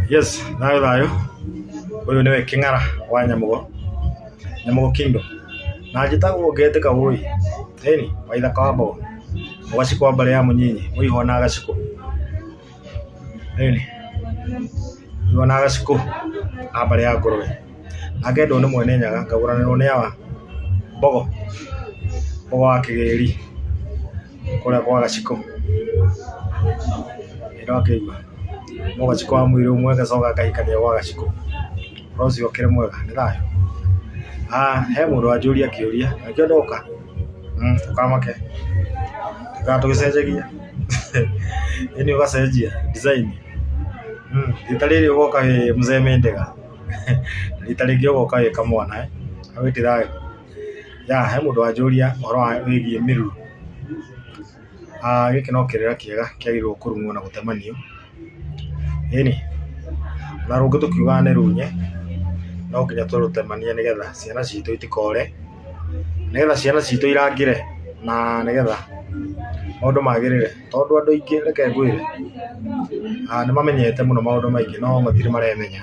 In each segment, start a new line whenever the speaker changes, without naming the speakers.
yes nayo thayo uyu niwe king'ara wa nyamugo nyamugo kingdom na njĩtagwo ngetĩka ũĩ ĩni waithaka wa mbogo ũgacikwa mbere ya mũnyinyi mũihwa na agacikũ ĩni mũihwa na agacikũ a mbere ya ngũrwe na ngendwo nĩ mwene nyaga ngagũranĩrwo nĩ awa mbogo mbogo wa kĩgĩri kũrĩa kwa gaciko, ĩno akĩimba, no gaciko wa mwĩrĩ ũmwe agacoka agakĩrĩa gwa gaciko, ũhoro ũcio ũkĩrĩ mwega, nĩ thayũ? He mũndũ wanjũria kĩũria, na nĩkĩo ndoka, ndũkamake, tũikare tũgĩcenjagia, ĩni ũgacenjia design, rita rĩrĩ ũgoka wĩ Mzee Mendenga, rita rĩngĩ ũgoka wĩ kamwana, wĩ ti thayũ? Ya, he mũndũ wanjũria ũhoro wa wĩgiĩ mĩruru. Gĩkĩ no kĩrĩra kĩega kĩagĩrĩirwo kũrung'o na gũtemanio. Ĩni, na rũngĩ tũkiuga nĩ runye, no nginya tũrũtemanie nĩ getha ciana citũ itikore, nĩ getha ciana citũ irangĩre na nĩ getha maũndũ magĩrĩre. Tondũ andũ aingĩ reke ngwĩre nĩ mamenyete mũno maũndũ maingĩ no matirĩ maremenya.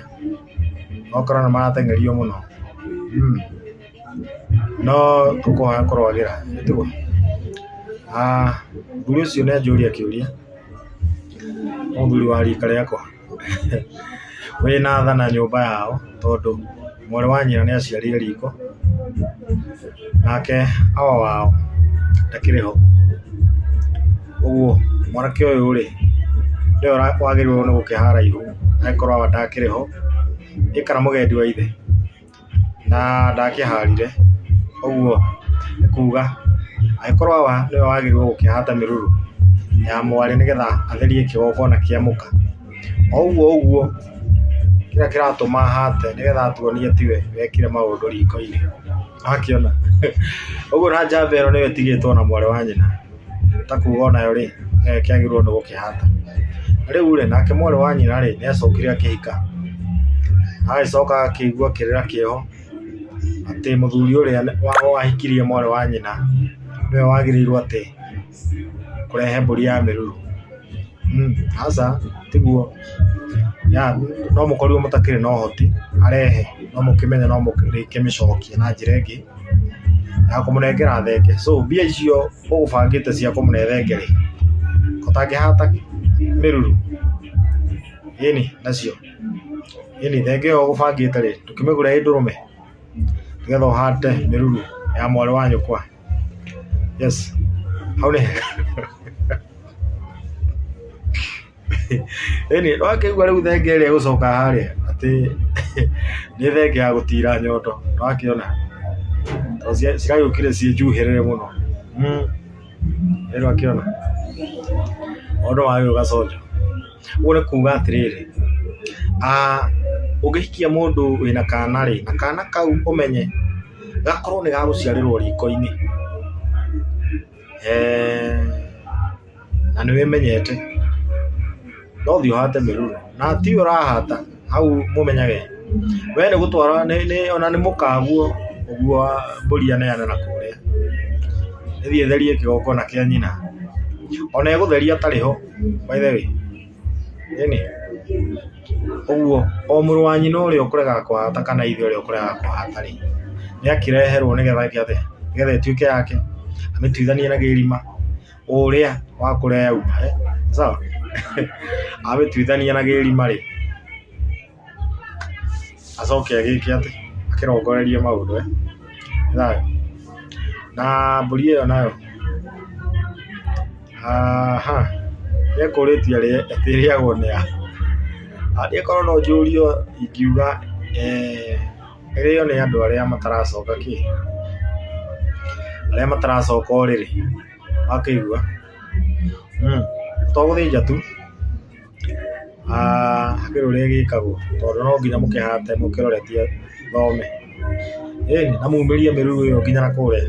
okorwo nĩ marateng'erio mũno no tũkũhoya kũrwagĩra nĩ tiguo? Mũthuri ũcio nĩ anjũria kĩũria, mũthuri wa rika rĩakwa wĩna tha na nyũmba yao tondũ mwarĩ wa nyina nĩ aciarire riko nake awa wao ndakĩrĩ ho. Ũguo mwanake ũyũ rĩ, nĩwe wagĩrĩirwo nĩ gũkĩoha haraihu angĩkorwo awa ndakĩrĩ ho, ĩ kana mũgendi wa ithe, na ndakĩharire, ũguo nĩ kuga angĩkorwo awa nĩwe wagĩrĩirwo gũkĩoha ta mĩruru ya mwarĩ nĩ getha atherie kĩgongona kĩa mũka. O ũguo ũguo kĩrĩa kĩratũma ahate nĩ getha atuonie tiwe wekire maũndũ riko-inĩ. Nĩ wakĩona? Ũguo na njamba ĩno nĩyo ĩtigĩtwo na mwarĩ wa nyina. ta kuga o nayo rĩ, kĩagĩrĩirwo nĩ gũkĩhata. Na rĩu rĩ, nake mwarĩ wa nyina rĩ, nĩ acokire akĩhika, agagĩcoka akĩigua kĩrĩra kĩao atĩ mũthuri ũrĩa wahikirie mwarĩ wa nyina nĩwe wagĩrĩirwo atĩ kũrehe mbũri ya mĩruru. Aca tiguo, no mũkorirwo mũtakĩrĩ na ũhoti arehe, no mũkĩmenye no mũrĩkĩmĩcokia na njĩra ĩngĩ. na kũmũnengera thenge so mbia icio ũgũbangĩte cia kũmũne thenge rĩ ũtangĩhata mĩruru ĩni nacio ĩni thenge ĩyo ũgũbangĩte rĩ ndũkĩmĩgũre ĩ ndũrũme nĩgetha ũhate mĩruru ya mwarĩ wa nyũkwa yes hau nĩ hega. ĩni nĩ wakĩigua rĩu thenge ĩrĩa ĩgũcoka harĩa atĩ nĩ thenge ya gũtira nyondo nĩ wakĩona tondũ cia- ciragĩũkire ciĩ njuhĩrĩre mũno Mm. ĩni wakĩona mũndũ wagĩ ũgaconjo ũguo nĩ kuga atĩrĩrĩ ah, ũngĩhikia mũndũ wĩna kana rĩ na kana kau ũmenye gakorwo nĩ gagũciarĩrwo riko-inĩ eeh na nĩ wĩmenyete no thiĩ ũhate mĩruru na ti ũrahata hau mũmenyage we nĩ gũtwara ona nĩ mũkagu ũguo wa mbũri aneane na kũrĩa ĩthiĩ ĩtherie kĩgongona kĩa nyina ona ĩgũtheria atarĩ ho by the way. Ĩni, ũguo o mũrũ wa nyina ũrĩa ũkũregaga kũhata kana ithe ũrĩa ũkũregaga kũhata rĩ, nĩ akĩreherwo nĩ getha eke atĩa? Nĩ getha ĩtuĩke yake, amĩtuithanie na gĩthima, ũrĩa wa kũrĩa yauma. Sawa? Amĩtuithanie na gĩthima rĩ, acoke agĩke atĩ, akĩrongorerie maũndũ e, nĩwona. Na mbũri ĩyo nayo, ekũrĩtie rĩrĩa ĩrĩagwo nĩ a. Angĩkorwo no njũrie ingiuga ĩrĩo nĩ andũ arĩa mataracoka kĩ, arĩa mataracoka ũrĩrĩ, nĩwakĩigua. To gũthĩnja tu. Hakĩrĩ ũrĩa ĩgĩkagwo tondũ no nginya mũkĩhate mũkĩroretie thome, ĩnĩ na mũmĩrie mĩruru ĩyo nginya nakũrĩa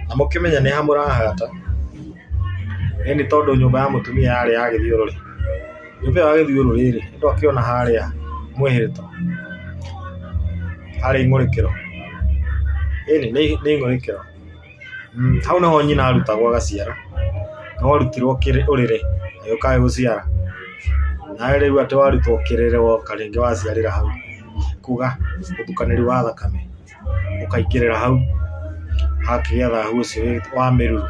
na mũkĩmenye nĩ ha mũrahata, ĩnĩ tondũ nyũmba ya mũtumia yarĩ ya gĩthiũrũrĩ, nyũmba ĩyo ya gĩthiũrũrĩ rĩ mũndũ akĩona harĩa mwĩhĩtwa harĩ ĩmũrĩkĩro, ĩnĩ nĩ ĩmũrĩkĩro. Hau nĩho nyina arutagwo agaciara, nĩ warutirwo ũrĩrĩ agĩũka agĩgũciara, nawe rĩu atĩ warutwo kĩrĩrĩ woka rĩngĩ waciarĩra hau, kuga ũtukanĩri wa thakame ũkaingĩrĩra hau, hakagĩa thahu ũcio wa mĩruru.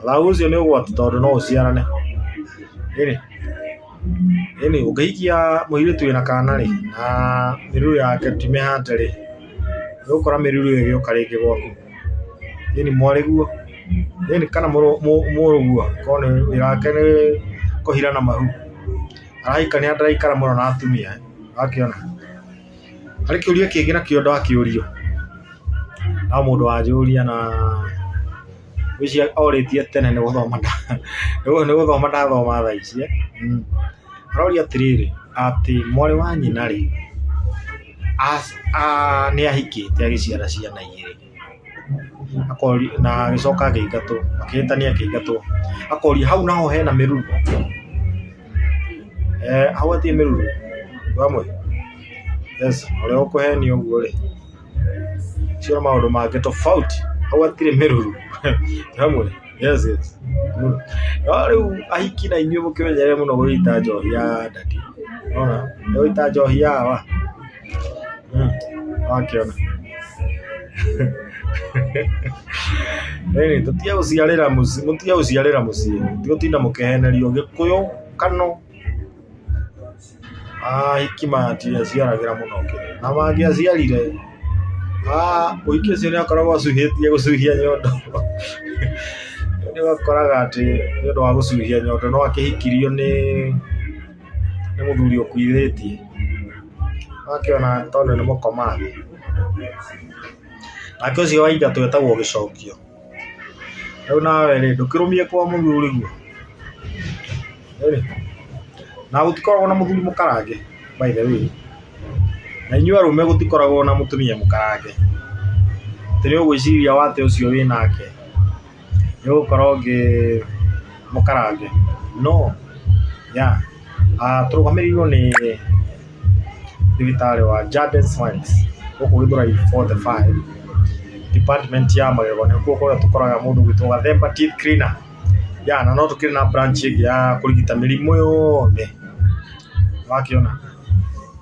Thahu ũcio nĩ ũgwati tondũ no ũciarane, ĩnĩ, ĩnĩ ũngĩhikia mũirĩtu wĩna kana rĩ na mĩruru yake ti mĩhande rĩ, nĩ ũgũkora mĩruru ĩyo ĩgĩũka rĩngĩ gwaku. Thĩinĩ mwarĩ guo, thĩinĩ kana mũrũ guo, korwo nĩ wĩra wake nĩ kũhira na mahu, araika nĩ ataraikara mũno na atumia ĩ, nĩwakĩona. Harĩ kĩũria kĩngĩ nakĩo ndakĩũrio, no mũndũ wanjũria na ngwĩciria orĩtie tene nĩ gũthoma nĩ gũthoma ndathoma thaa ici ĩ, aroria atĩrĩrĩ, atĩ mwarĩ wa nyina rĩ. nĩ ahikĩte agĩciara ciana igĩrĩ, na agĩcoka akĩingatwo, akĩhĩtania akĩingatwo, akorio hau naho hena mĩruru? Hau hatirĩ mĩruru? Yes, ũrĩa ũkũhenio ũguo rĩ, ũcio nĩ maũndũ mangĩ tofauti, hau hatirĩ mĩruru. Yes, yes. Mm. No rĩu ahiki na inyuĩ mũkĩmenyerere mũno gũgĩita njohi ya ndati. Ona, gũgĩita njohi ya wa. Mm. Wakĩona. Rĩrĩ, tũtige gũciarĩra mũciĩ, mũtige gũciarĩra mũciĩ. Tigo tinda mũkĩhenerio gĩkũyũ kano Ahiki matiaciaragĩra mũno kĩ, na mangĩaciarire mũhiki ũcio nĩ akoragwo acuhĩtie gũcuhia nyondo. Nĩ ũkoraga atĩ nĩ ũndũ wa gũcuhia nyondo no akĩhikirio nĩ mũthuri ũkuithĩtie, agakĩona tondũ nĩ mũkomagu. Nake ũcio wa ithatũ etagwo gĩcokio. Rĩu nawe rĩ ndũkĩrũmie kwa mũthuri guo ĩĩ na gũtikoragwo na mũthuri mũkarange by the way na inyuĩ arũme gũtikoragwo na mũtumia mũkarange atĩ nĩ ũgwĩciria wate ũcio wĩ nake nĩ ũgũkorwo ũngĩ mũkarange no yeah. Tũrũgamĩrĩirwo nĩ ndagĩtarĩ wa Jade's Smiles gũkũ Gĩthũrai forty five department ya magego nĩkuo kũrĩa tũkoraga mũndũ ũgwĩtwo Gathemba teeth cleaner. Na no tũkĩrĩ na branch ĩngĩ ya kũrigita mĩrimũ yothe nĩwakĩona.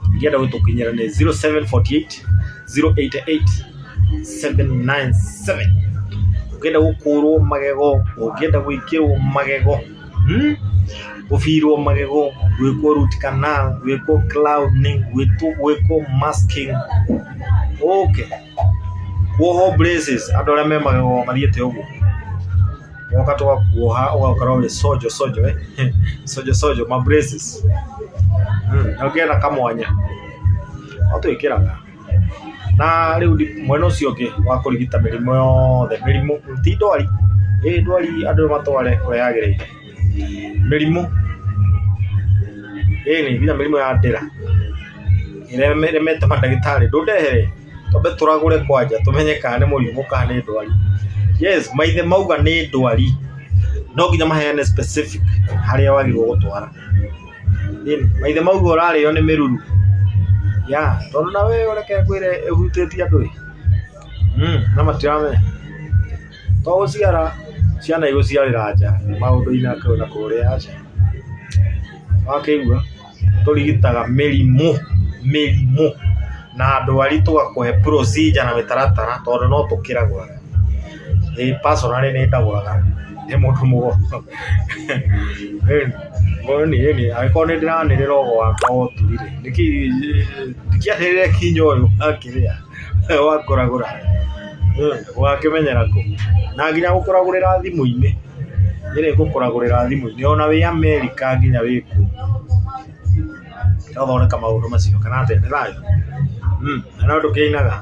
Ũngĩenda gũtũkinyĩra nĩ zero seven forty eight zero eight eight seven nine seven ũngĩenda gũkũrwo magego, ũngĩenda gwĩkĩrwo magego. Gũbirwo magego, gwĩkwo root canal, gwĩkwo crowning, gwĩkwo masking, ũkĩ, kwohwo braces, andũ arĩa me magego mathiĩte ũguo, ũgoka tũgakwoha ũgaikara ũrĩ sojo sojo, sojo sojo, ma braces, ũgĩe na kamwanya, no twĩkĩraga. Na rĩu mwena ũcio ũngĩ wa kũrigita mĩrimũ yothe, mĩrimũ ti ndwari, ĩ ndwari andũ matware kũrĩa yagĩrĩire, mĩrimũ ĩni nginya mĩrimũ ya ndĩra ĩrĩa ĩremete mandagĩtarĩ ndũndehere twambe tũragũre kwanja tũmenye kana nĩ mũrimũ kana nĩ ndwari. Yes maithe mauga nĩ ndwari no nginya maheane specific harĩa wagĩrĩirwo gũtwara. Ĩni, maithe mauga ũrarĩo nĩ mĩruru. Ya, tondũ na wee ũreke ngwĩre ĩhutĩtie andũ ĩ. Mm, na matiramenya. To gũciara, ciana igũciarĩra nja, maũndũ-inĩ akĩrĩ na kũrĩa aca. Wakĩigua, tũrigitaga mĩrimũ, mĩrimũ, na ndwari tũgakũhe procedure na mĩtaratara tondũ no tũkĩragũra. Ĩĩ personally nĩ ndagũraga ndĩ mũndũ mũgũrũ. Angĩkorwo nĩ ndĩranĩrĩra o gwakwa o tu rĩ, ndingĩanĩrĩra nginya ũyũ akĩrĩa wa kũragũra ũgakĩmenyera kũ? Na nginya gũkũragũrĩra thimũ-inĩ, nĩ rĩ ngũkũragũrĩra thimũ-inĩ ona wĩ America nginya wĩ kũ? twathondeka maũndũ macio kana atĩa nĩ thayo Mm, na no ndũkĩinaga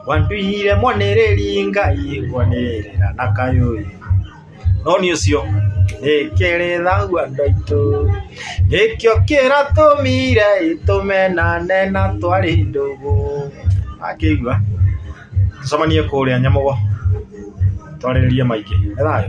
wanduire mwanĩrĩri ngai kwanĩrĩra na kayũĩ no nĩ ũcio ĩkĩrĩ thagu andũ aitũ nĩkĩo kĩra tũmire itũmenane na twarĩ ndũgũ akĩigua tũcemanie kũrĩa nyamogo twarĩrĩrie maingĩ nĩ thayo